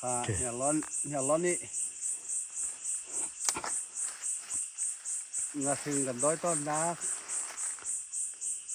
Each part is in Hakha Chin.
Hniarlawn i ngahring kan dawi tawnnak,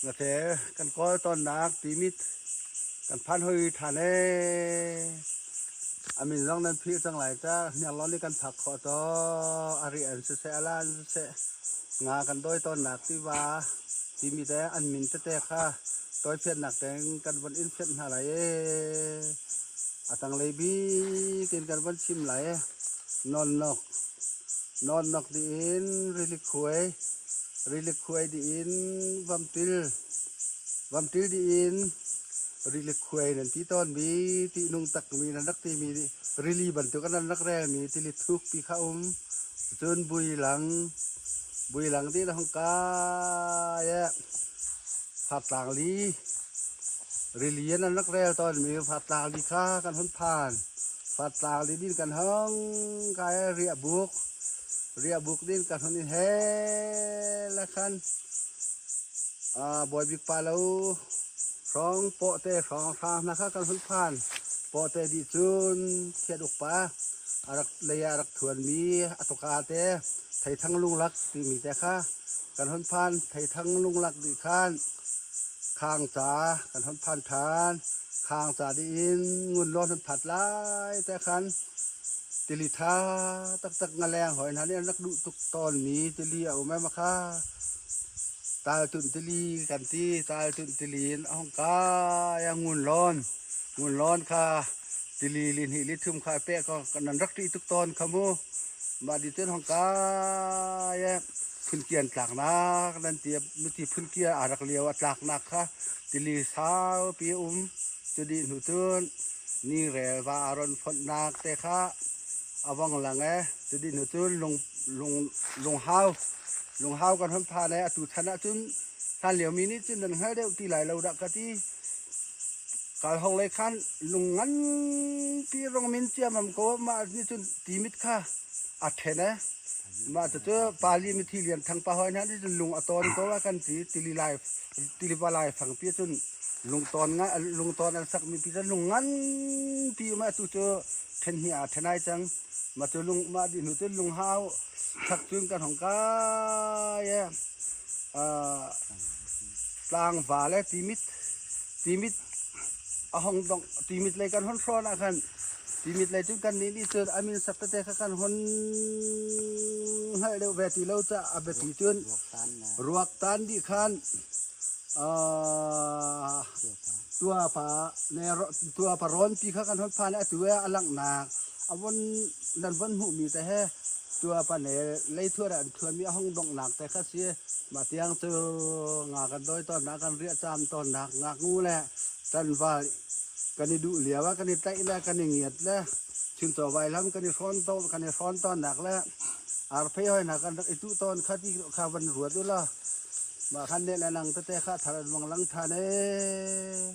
ngate kan kawl tawnnak timit kan phan hoi than e. Amin zong nan phir cang lai ta. Hniarlawn i kan phak khawh to. Ari an si se, alan si se. Nga kan dawi tawnnak tiva timi te an min tete kha toifiannak tein kan von in fianh hna lai ee. A tanglei bikin kan von chim lai ee. Nawnnok. Nawnnok diin rilik huai. Rilik huai diin vamtil. Vamtil diin rilik huai nan ti tawn mi ti nung tak mi nan rak ti mi rili bantuk an rak rel mi tilit thuk ti kha um. Cun builang, builang dih na hung kai e fartlang li rili an an rak rel tawnmi fartlang li kha kan hun phan. Fartlang li din kan hong kai e riah buk, riah buk din kan hun in he la khan aa bawi bik pa lo hrawng pawhte hrawng hrang hna kha kan hun phan. Pawhte dih cun thiat uk pa. a rak lei ah a rak ṭhuanmi a tuka te Theithang Lunglak timi te kha kan hon phan. Theithang Lunglak nih khan khang ca kan hon phan ṭhan. Khang ca dih in ngun law nan phat lai te khan tili ṭha taktak ngaleng hoi hna nih an rak duh tuk tawnmi tili a um em kha Taltunh tili kan ti. Taltunh tili in a hong kai a ngun lawn. Ngun lawn kha Tili lihnih lithum kha pek nan rak ṭih tuk tawn kha mu. Mah di cun hong kai e phunki an tlaknak nan ti nuti phunki aa rak lio a tlaknak kha tili saupi a um cu dih hnu cun ni relva a ron fonhnak te kha a vong lang e cu dih hnu cun lung lung lunghau lunghau kan hon phan e atu chan ah cun hlan liomi nih cun nan hngal deuh ti lai lo dah ka ti Kalhawng lei khan lung nganpi rung min ciammam ko, mah nih cun ti mit kha a ṭhen i mah cucu Pali mithi Lian Thang pa hawi hna nih cun lung a tawn ko a kan ti. Tili lai tiva laifang pi cun lungtawn ngai lungtawn an sakmi pi cu lung nganpi um atu cu ṭhen hnih ah a ṭhen ai cang. Mah cu lung mah dih hnu cun lunghau chak cun kan hong kai i aa tlangva le timit timit a hong dong timit lei kan hon hrawn ah khan timit lei cu kan nih nih cun amin saptete kha kan hon hngalh deuh ve ti lo ca a biapi cun ruak tan dih khan tua pa ne tua pa rawn ti kha kan hon phan a tu a langnak a von nan von hmuhmi te he Tuapanel leithuar ah an ṭhuanmi a hung donghnak te kha si. Mah tiang cu nga kan dawi tawnnak, kan riah caam tawnnak, ngaknu le ṭanval kan i duh lio ah kan i tlaih le kan i ngiat le chuncaw vailam kan i hrawn tawn, kan i hrawn tawnnak le arphei hawinak an rak i tuh tawn kha ti kha van ruat ulaw mah khan nih le nang tete kha a thar an vang lang ṭhan ee.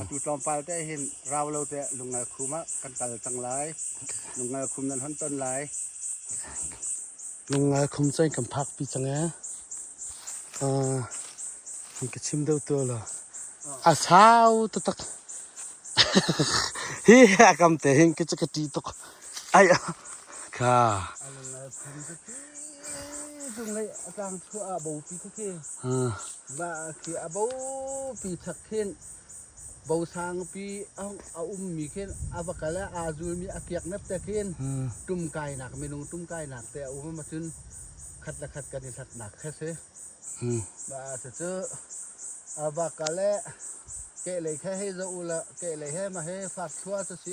Atu tlawmpal te hin rau lo te lungngal khum ah kan kal cang lai. Lungngal khum nan hon ton lai. Lungngal khum cu kan phak pi cang e. Uh, kan ka chim deuh tu lo. A sau tu tak. Hi ha kam te hin ke ka ti tuk. Ai. Kha. Lungngal khum cu ti. Lungngai a tang chua a bo pi ku khi. Ha. khi a bopi chak khin bosangpi a ummi khin a va kal ah aa zulmi a kiak nep te khin tum kainak minung tum kainak te a um cun khat le khat kan i hlatnak kha si ma cu cu a va kal eh kehlei kha hei za u la kehlei he ma he fak thlua cu si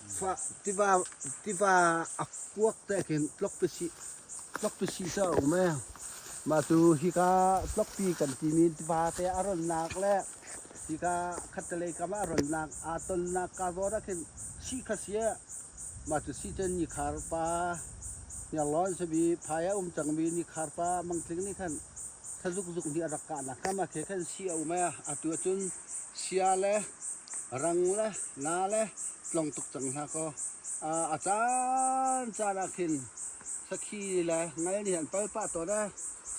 Tiva a kuak tek in tlokpisi cu a um ee. Mah tu hika tlokpi kan timi tiva te a ronnak le hika khattelei kam ah a ronnak aa tonnak carbon ah khin sii kha si ee. Mah tu sii cun nikhar pa hniarlawn sabi phai a um cangmi nikhar pa mangtling nih khan thazukzuk nih a rak kahnak kam ah khe khan sii a um ee. Atu ahcun Chia le rang le na le tlong tuk cang hlah kaw a caan caan ah khin sakhi le ngal nih an pal pah tawn ee.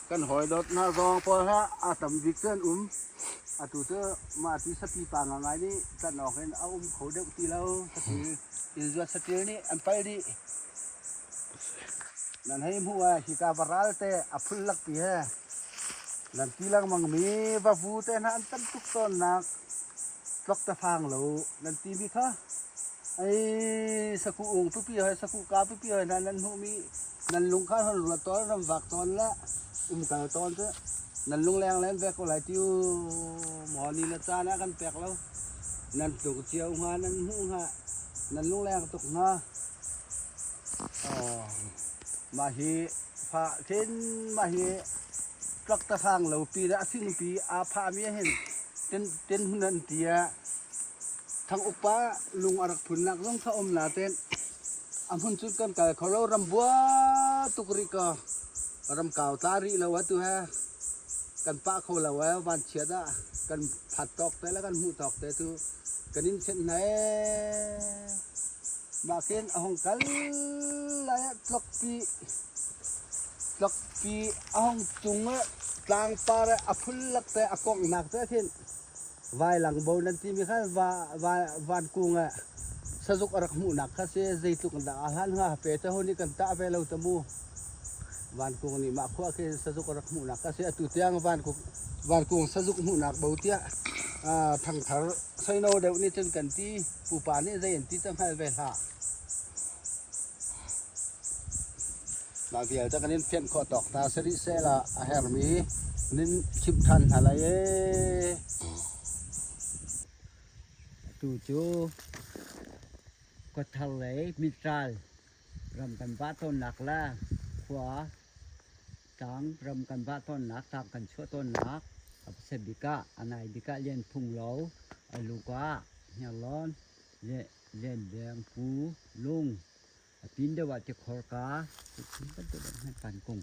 Kan hawi dawt hna zong pawl hlah a tam bik cu an um. Atu cu mahti sapi pa ngaingai nih tlanh awk in a um kho deuh ti lo. Sakhi inn zuat saṭil nih an pal dih. Nan hei hmuh ah hika va ral te a phul lakpi he nan ti lengmang mi vavu te hna an tam tuk tawnnak tlok te phang lo nan ti mi kha ei saku ung pipi hoi saku ka pipi hoi hna nan hmuh mi nan lung kha hon ruat tawn ram vak tawn le um kal tawn cu nan lung leng len ve ko lai tiu maw ni na caan ah kan pek lo nan tlung cio hnga nan hmuh hnga nan lung leng tuk hnga Mah hi fah khin mah hi truck tasang lo pi le a fingpi aa phahmi ahhin tenhmun an ti ah thang upa lung a rak phunnak zong kha um la teh. A hmun cu kan kal kho lo ram bua tuk rih kaw ram kau tla rih lo atu he kan pah kho lo ee vanchiat ah kan phat tawk te le kan hmuh tawk te cu. kan in thenh hna ee. Mah khin a hung kal lai ah tlokpi tlokpi a hung cung ah tlangpar ah a phullak te a kongnak te khin vailang bo nan ti mi kha va va van kung ah sazuk a rak hmuhnak kha si zeitluk in dah a hlan hnga pe te hun i kan tah ve lo ta mu Van Kung nih mah khua khi sazuk a rak hmuhnak a si. Atu tiang Van Kung, Van Kung sazuk hmuhnak bo tiah thangthar soino deuh nih cun kan ti. Pupa nih zei an ti te hngal ve hlah. Mah vialte kan in fianh khawh tawk hna si rih sel ah a hermi nin chimh ṭhan hna lai ee. Tu cu kawthar lei mitral Ram kan vah tawnnak le khua, tlang, ram kan vah tawnnak, tlang kan chuah tawnnak a pasa bik ah, a nai bik ah Lian Phung Lo, a luk ah Hniarlawn, Lianveng, Pu Lung, a pin deuh ah Tikhor ka, cu thil bantuk in hman kan kung.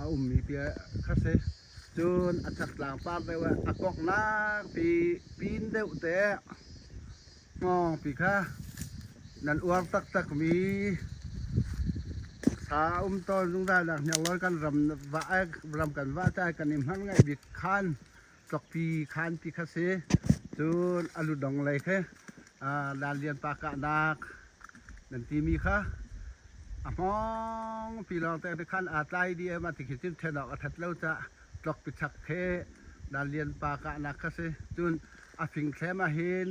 a ummi pi kha a si. Cun a chaktlang par deuh ah a konghnak pi pin deuh te hnawngpi kha nan uar taktakmi sa a um tawn zungzal nak hniang lawi kan ram vah ram kan vah cai kan i hman ngaih bik khan Tlokpi khan ti kha si. Cun a ludong lei khe Lal Lian Pa kahnak nan timi kha a hmong pi lawng te khan aa tlai di em a ti khi cun ṭhen awk a that lo ca tlok pichak he Lal Lian Pa kahnak kha si. Cun a fing thlem ah hin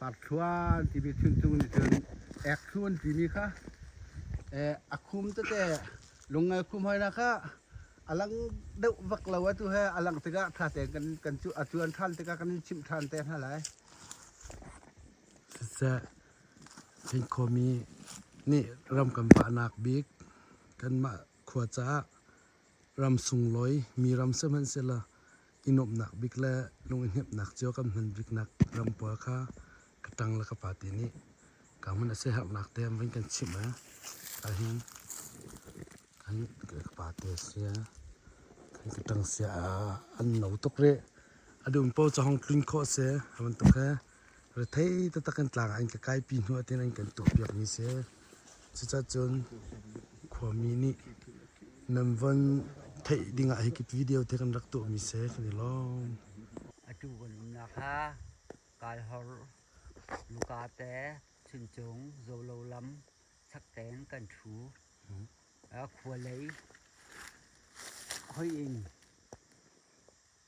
Parthluan timi chuncung nih cun ekhlun timi kha eh, a khum tete lungngai khum hoina kha a lang deuh vak lo atu he a langh tikah tha tein kan kan cu a cuan than tikah kan in chimh than te hna lai. Siseh, Hinkomi nih ram kan pahnak bik kanmah khua caah Ram sunglawi mi ram sihmanhsehlaw i nuamhnak bik le lunghnemhnak cio kan hman biknak ram pawl kha ka ṭang le ka pate nih ka hmun a siaherhnak te an vun kan chimh i ahhin an ka pate a si kan ka ṭang sia an no tuk rih a dum pawl cu hong tlun khawh a si a bantuk hi Rethei taktak in tlang ah an ka kaipi hnu ah tiin an kan tuahpiakmi si. Cucacun khuami nih nan von theih ding ah hi kip video te kan rak tuahmi si kan i lawm. Atu kan umnak ha Kaihor, Lukate, Chuncung, Zolo lam sakten kan thu. Khua lei hoi in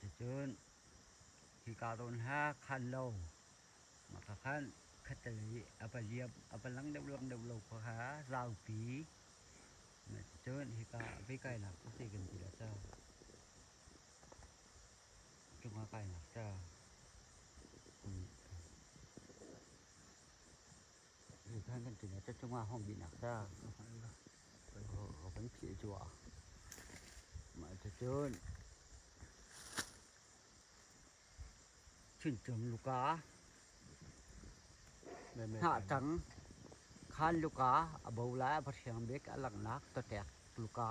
Cucun hi kaa tawn hla khan lo mah kha khan khatlei a va liam a va lang deuh lang deuh lo kha kha zaupi cucun hika vei kainak cu seh kan ti lo ca cungah kainak ca kum Nan kan ṭin a cungah hong bihnak sa kan phih cuah. Mah cun cincin luka, hnahcang, khan luka, a bo lai a va hriang bik a langnak, tatek luka.